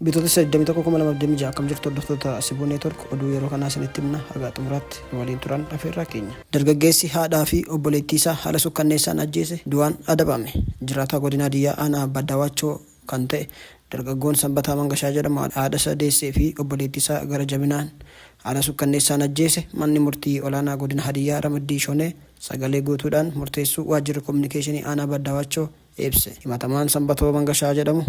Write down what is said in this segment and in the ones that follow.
Bitootessa 21,2026 akkam jirtu hordoftoota Sibuu Neetwork oduu yeroo kanaa isinitti himna hagaa xumuraatti nu waliin turan afeerraa keenya. Dargaggeessi haadhaa fi obboleettii isaa haala sukkanneessaan ajjeese du'aan adabame. Jiraataa godina Hadiyyaa aanaa Baddawaachoo kan ta'e dargaggoon Sanbataa Mangashaa jedhamu haadhasaa deessee fi obboleettiisaa gara jabinaan haala sukkanneessaan ajjeese Manni Murtii Olaanaa Godina Hadiyyaa Ramaddii Shonee sagalee guutuudhaan murteessuu Waajjirri Kominikeeshinii Aanaa Baddawaachoo ibse. Himatamaan Sanbatoo Mangashaa jedhamu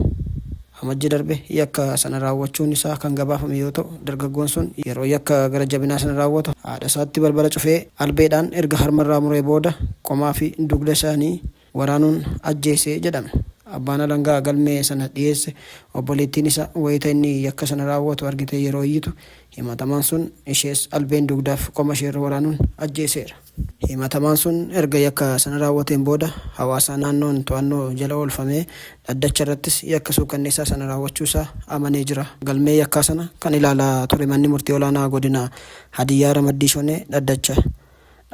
Amajji darbe yakka sana raawwachuun isaa kan gabaafame yoo ta'u, dargaggoon sun yeroo yakka gara jabinaa sana raawwatu haadhasaatti balbala cufee albeedhaan erga harmarraa muree booda qomaa fi dugda isaanii waraanuun ajjeese jedhame. Abbaan alangaa galmee sana dhiyeesse obboleettiin isa wayita inni yakka sana raawwatu argitee yeroo iyyitu himatamaan sun ishees albeen dugdaaf qoma isheerra waraanuun ajjeeseera. Himatamaan sun erga yakka sana raawwateen booda hawaasa naannoon to'annoo jala oolfamee dhaddacha irrattis yakka suukanneessaa sana raawwachuu isaa amanee jira. Galmee yakkaa sana kan ilaalaa ture manni murtii olaanaa godina Hadiyyaa Ramaddii Shonee dhaddacha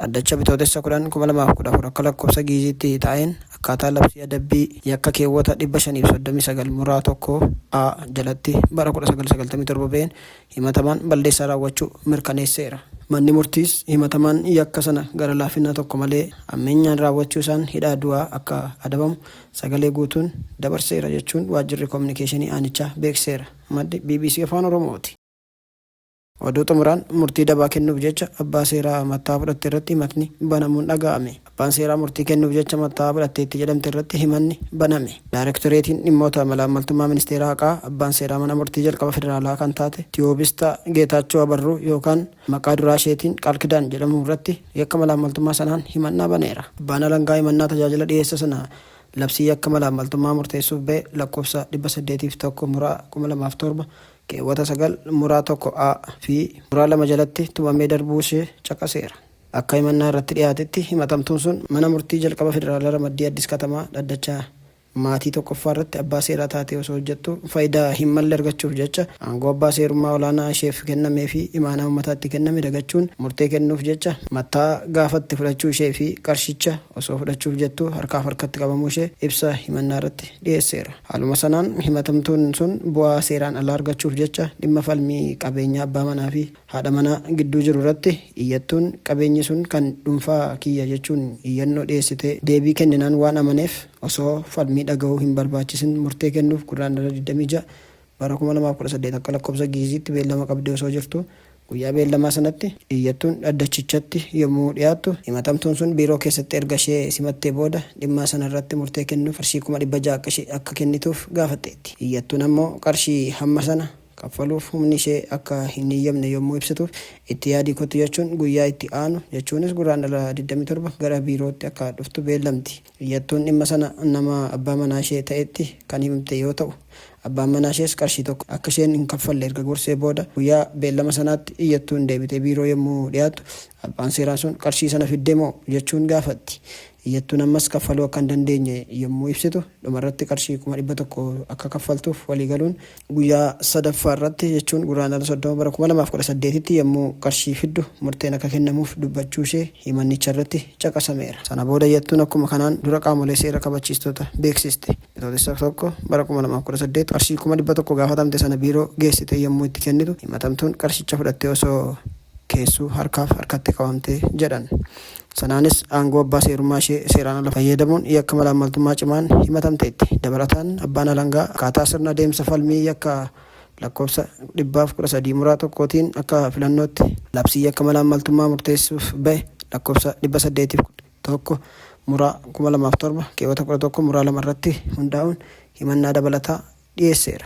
Dhaddacha Bitootessa 10, 2014 akka lakkoofsa Gi'iziitti taa'een akkaataa labsii adabbii yakka keewwata 539 muraa 1 a jalatti bara 1997 ba'een himatamaan balleessaa raawwachuu mirkaneesseera. Manni murtiis himatamaan yakka sana gara laafina tokko malee hammeenyaan raawwachuu isaan hidhaa du'aa akka adabamu sagalee guutuun dabarseera jechuun waajjirri kominikeeshinii aanichaa beeksiseera. Maddi bbc Afaan Oromooti. Oduu xumuraan murtii dabaa kennuuf jecha abbaa seeraa matta'aa fudhatte irratti himatni banamuun dhaga'ame. Abbaan seeraa murtii kennuuf jecha matta'aa fudhatteetti jedhamte irratti himanni baname. Daarektoreetiin Dhimmoota Malaammaltummaa Ministeera Haqaa abbaan seeraa mana murtii jalqaba federaalaa kan taate Tiyoobistaa Geetaachoo Abarruu yookaan maqaa duraa isheetiin Qaalkidaan jedhamu irratti yakka malaammaltummaa sanaan himannaa baneera. Abbaan alangaa himannaa tajaajila dhiyeessa sana labsii yakka malaammaltummaa murteessuuf ba'e lakkoofsa 801 Mura 2007 keewwata 9 muraa 1 a fi muraa 2 jalatti tumamee darbuu ishee caqaseera. Akka himannaa irratti dhiyaatetti himatamtuun sun Mana Murtii Jalqaba Federaalaa Ramaddii Addis Katamaa dhaddacha Maatii 1ffaa irratti abbaa seeraa taatee osoo hojjettuu faayidaa hin malle argachuuf jecha aangoo abbaa seerummaa olaanaa isheef kennamee fi imaanaa uummataa itti kenname dagachuun murtee kennuuf jecha mattaa gaafatte fudhachuu ishee fi qarshicha osoo fudhachuuf jettuu harkaaf harkatti qabamuu ishee ibsa himannaa irratti dhiyeesseera. Haaluma sanaan himatamtoonni sun bu'aa seeraan alaa argachuuf jecha dhimma falmii qabeenyaa abbaa manaa fi haadha manaa gidduu jiru irratti iyyattuun qabeenyi sun kan dhunfaa kiyya jechuun iyyannoo dhiyeessite deebii kenninaan waan amaneef osoo falmii dhaga'uu hin barbaachisin murtee kennuuf Gurraandhala 26, bara 2018 akka lakkoofsa Gi'iziitti beellama qabdee osoo jirtuu guyyaa beellamaa sanatti iyyattuun dhaddachichatti yommuu dhiyaattu himatamtuun sun biiroo keessatti erga ishee simattee booda dhimmaa sana irratti murtee kennuuf qarshii 600,000 akka ishee akka kennituuf gaafatteetti. Iyyattuun ammoo qarshii hamma sana kaffaluuf humni ishee akka hin heyyamne yommuu ibsituuf itti yaadii kottu jechuun guyyaa itti aanu jechuunis Gurraandhala 27 gara biirootti akka dhuftu beellamti. Iyyattuun dhimma sana nama abbaa manaashee ta'etti kan himte yoo ta'u, abbaan manaashees qarshii tokko akka isheen hin kaffalle erga gorsee booda guyyaa beellama sanaatti iyyattuun deebitee biiroo yommuu dhiyaattu abbaan seeraa sun qarshii sana fiddemoo? jechuun gaafatti. Iyyattuun ammas kaffaluu akka hin dandeenye yommuu ibsitu dhumarratti qarshii 100,000 akka kaffaltuuf waliigaluun Guyyaa sadaffaa irratti jechuun Gurraandhala 30 bara 2018tti yommuu qarshii fiddu murteen akka kennamuuf dubbachuu ishee himannicha irratti caqasameera. Sana booda iyyattuun akkuma kanaan dura qaamolee seera kabachiistota beeksiste. Bitootessa 1 bara 2018 qarshii 100,000 gaafatamte sana biiroo geessitee yommuu itti kennitu himatamtuun qarshicha fudhattee osoo keessuu harkaaf harkatti qabamte jedhan. Sanaanis aangoo abbaa seerummaa ishee seeraan ala fayyadamuun yakka malaammaltummaa cimaan himatamteetti. Dabalataan, abbaan alangaa akkaataa sirna adeemsa falmii yakka lakkoofsa dhibbaaf kudha sadii muraa tokko tiin akka filannootti labsii yakka malaammaltummaa murteessuuf bahe lakkoofsa dhibba saddeetii fi kudha tokko muraa kuma lamaa fi torba keewwata kudha tokko muraa lama irratti hundaa'uun himannaa dabalataa dhiyeesseera.